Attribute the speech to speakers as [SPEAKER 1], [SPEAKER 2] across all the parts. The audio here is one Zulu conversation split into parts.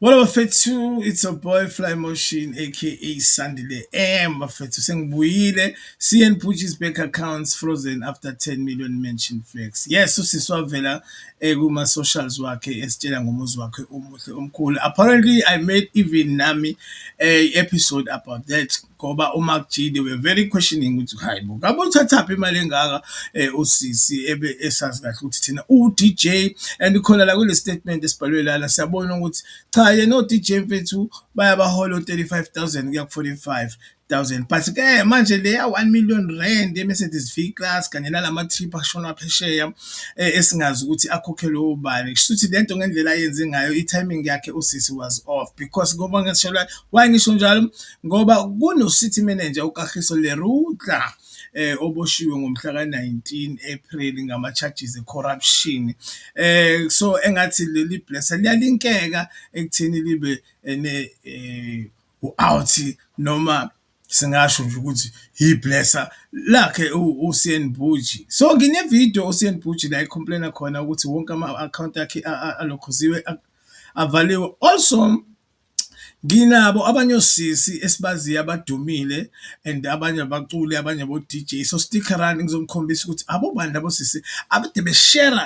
[SPEAKER 1] Wolo bafethu it's a boy fly motion aka Sandile M bafethu sengibuyile CN Pucci's bank accounts frozen after 10 million mention flex yes usisi wavela eh, kuma socials wakhe esitshela ngomuzi wakhe omuhle omkhulu apparently I made even nami a eh, episode about that ngoba uMark G they were very questioning ukuthi hayi bo ngabe uthathaphi imali engaka eh, usisi ebe esazi kahle ukuthi thina uDJ and khona la kule statement esibhalwe lana siyabona ukuthi cha yena uDJ mfethu bayabahola 35000 kuya ku 45 thousand but ke manje leya 1 million rand eMercedes V class kanye nalama trip ashona phesheya eh, esingazi ukuthi akhokhelwe ubani kushuthi lento ngendlela ayenze ngayo i timing yakhe usisi was off because ngoba ngishelwa why ngisho njalo ngoba kunoCity manager uKagiso Lerudla oboshiwe ngomhla ka-19 April ngama-charges e-corruption. Eh so engathi leli blesser liyalinkeka ekutheni libe ne eh, u-out noma singasho nje ukuthi yiblesser lakhe uSian Buji so nginevideo uSian Buji la ecomplaina khona ukuthi wonke ama-akhawunti akhe alokhuziwe avaliwe also Nginabo abanye osisi esibaziyo abadumile and abanye abaculi abanye abo-D_J so stick around ngizokhombisa ukuthi abobani labo sisi akade beshera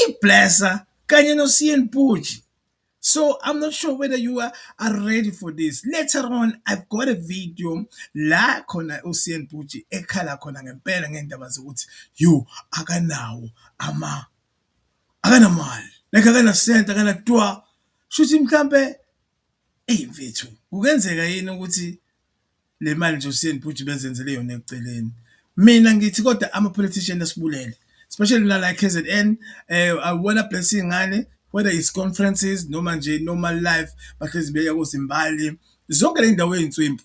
[SPEAKER 1] iblesa kanye noSiyenipuji. So I'm not sure whether you are are ready for this, later on I've got a video la khona uSiyenipuji ekhala khona ngempela ngendaba zokuthi yoh akanawo . akanamali like akanasenti akanatwa shuthi mhlampe eyi mfethu kungenzeka yini ukuthi le mali nje uSiyeni Bhuti bezenzele yona eceleni. Mina ngithi kodwa ama-politician asibulele especially mina la e-KZN um eh, awuwona bless iy'ngane whether it's conferences noma nje normal life bahlezi beya kozimbali zonke le ndawo ey'nswimpu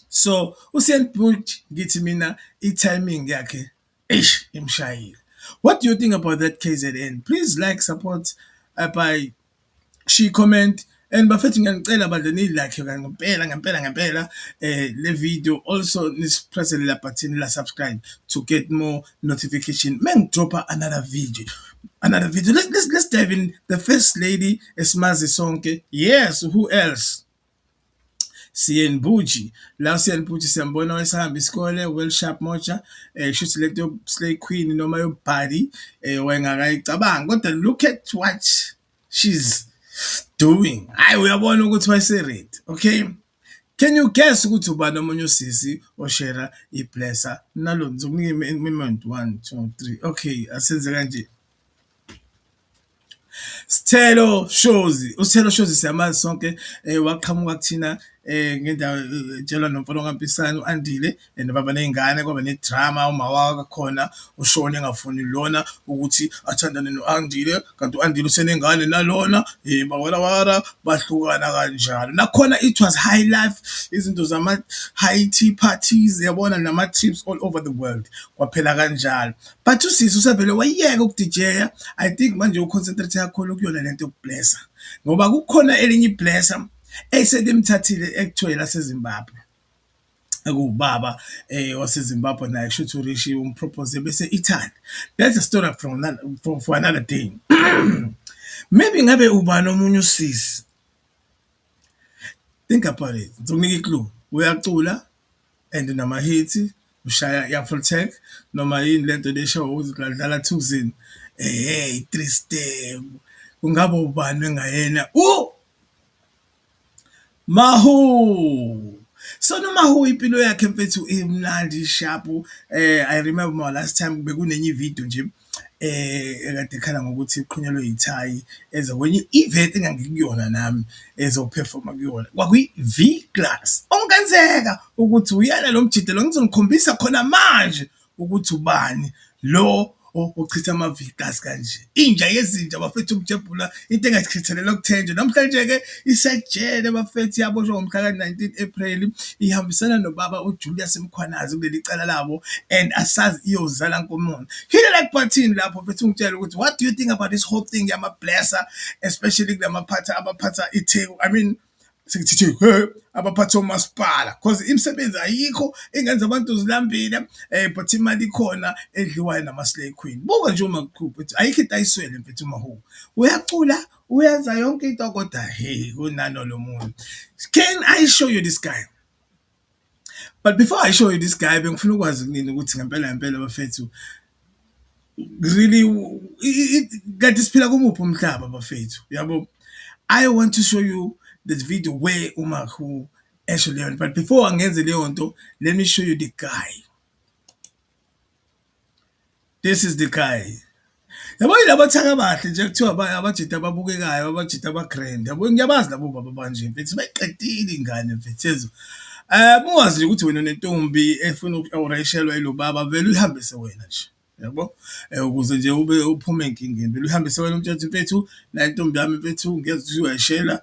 [SPEAKER 1] so uSiyeni Bhuti ngithi mina i-timing yakhe Eish imshayile. What do you think about that KZN? Please like, support uh, by she comment and bafethu ngiyanicela bandla niyilakhe ngempela ngempela ngempela eh le video also nisipresse la button la subscribe to get more notification mengidropa another video another video let's, let's, let's dive in the first lady esimazi sonke yes who else Siyeni Bhuji la Siyeni Bhuji siyambona wayesahamba isikole well sharp moja eh shuthi lento yo slay queen noma yo body eh wayengakayicabanga kodwa look at what she's doing hayi uyabona ukuthi wayese ready okay Can you guess ukuthi ubani omunye usisi oshera iblesser nalo ngizokunika imement 1 2 3 okay asenze kanje Sthelo Shozi, uSthelo Shozi siyamazi sonke waqhamuka kuthina ngendawo etshelwa nomfana kaMpisane u-Andile and baba ney'ngane kwaba ne-drama umawaka khona ushone engafuni lona ukuthi athandane no-Andile kanti u-Andile usenengane nalona hheyi bawela wara bahlukana kanjalo. Nakhona it was high life izinto zama-high tea parties yabona nama-trips all over the world kwaphela kanjalo. But usisi usevele wayeka ukudijeya. I think manje uconcentrate kakhulu kuyona lento yokublessa. Ngoba kukhona elinye iblessa eselimthathile ekuthiwa laseZimbabwe. Ekuwubaba eh waseZimbabwe naye kushuthi uRishi umpropose bese Italy. That's a story from for, for another day. Maybe ngabe ubani omunye usisi. Think about it. Ngizomnika iclue. Uyacula and unama hit ushaya ya full tank noma yini lento lesho ukuthi udlala thuzini eh three step kungaba ubani engayena u Mahu so noma hu impilo yakhe mfethu imnandi sharp eh i remember my last time bekunenye video nje ekade ekhala ngokuthi iqhunyelwe ithayi eze kwenye i-event engangikuyona nami ezophefoma kuyona, kwakuyi-V Class. Okungenzeka ukuthi uyena lo mjita lo, ngizonikhombisa khona manje ukuthi ubani lo ochitha ama-V Class kanje. Inja yezinja bafethu umjabhula into engachithelelwa kuthenjwa namhlanje-ke isejele bafethi yaboshwa ngomhla ka-19 ephreli ihambisana nobaba ujulius mkhwanazi kuleli cala labo and asazi iyozala nkomona hile like button lapho fethu ungitshela ukuthi what do you think about this whole thing yama-blesser especially kula maphatha abaphatha itheku i mean sekuthithe he abaphathi omasipala cause imisebenzi ayikho engenza abantu zilambile eh but imali ikhona edliwayo nama-slay queen buka nje uma kuqhupha ukuthi ayikho into ayiswele mfethu umahu uyacula uyenza yonke into kodwa hey kunano lo muntu can i show you this guy But before I show you this guy bengifuna ukwazi kunini ukuthi ngempela ngempela bafethu really kanti siphila kumuphi umhlaba bafethu yabo I want to show you this video where uMahu esho leyo nto but before angenze leyo nto let me show you the guy This is the guy. Yabo yilaba thaka bahle nje kuthiwa abajita ababukekayo abajita abagrand yabo ngiyabazi labo baba banje mfethu bayiqedile ingane mfethu yezo eh muwazi nje ukuthi wena nentombi efuna ukureshelwa ilobaba vele uyihambise wena nje yabo eh, ukuze nje ube uphume enkingeni vele uyihambise wena umthetho mfethu la ntombi yami mfethu ngeke uyashela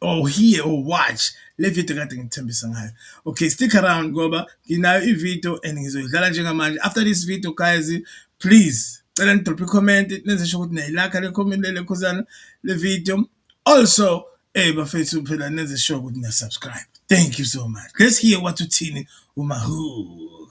[SPEAKER 1] or hear or watch le video kade ngithembisa ngayo okay stick around ngoba nginayo ivideo and ngizoyidlala njengamanje after this video guys please cela nidrophe icomment nenze sho ukuthi niyayilakha le comment lele khosana le video also eh bafethu phela nenze sure ukuthi niyasubscribe thank you so much let's hear what uthini umahu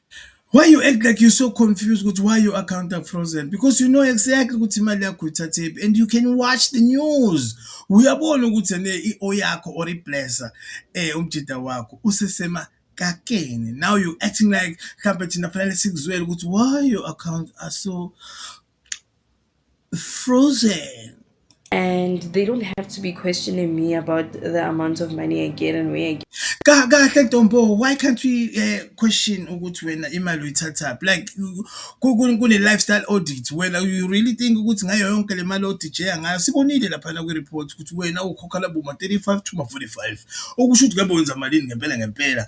[SPEAKER 1] Why you act like you're so confused with why your account are frozen? Because you know exactly ukuthi imali yakho ithathephi and you can watch the news. Uyabona ukuthi ne i-o yakho or iblesser eh umjida wakho usesema kakeni. Now you acting like mhlawumbe thina fanele sikuzwele ukuthi why your account are so frozen. And
[SPEAKER 2] they don't have to be questioning me about the amount of money I get and where I get. Kahle Ntombo,
[SPEAKER 1] why can't we uh, question ukuthi wena imali uyithathaphi? Like kune lifestyle audit wena you really think ukuthi ngayo yonke le mali odijea ngayo sibonile laphana kwi-report ukuthi wena ukhokha laboma 35 to ma-45 okusho ukuthi ngabe wenza malini ngempela ngempela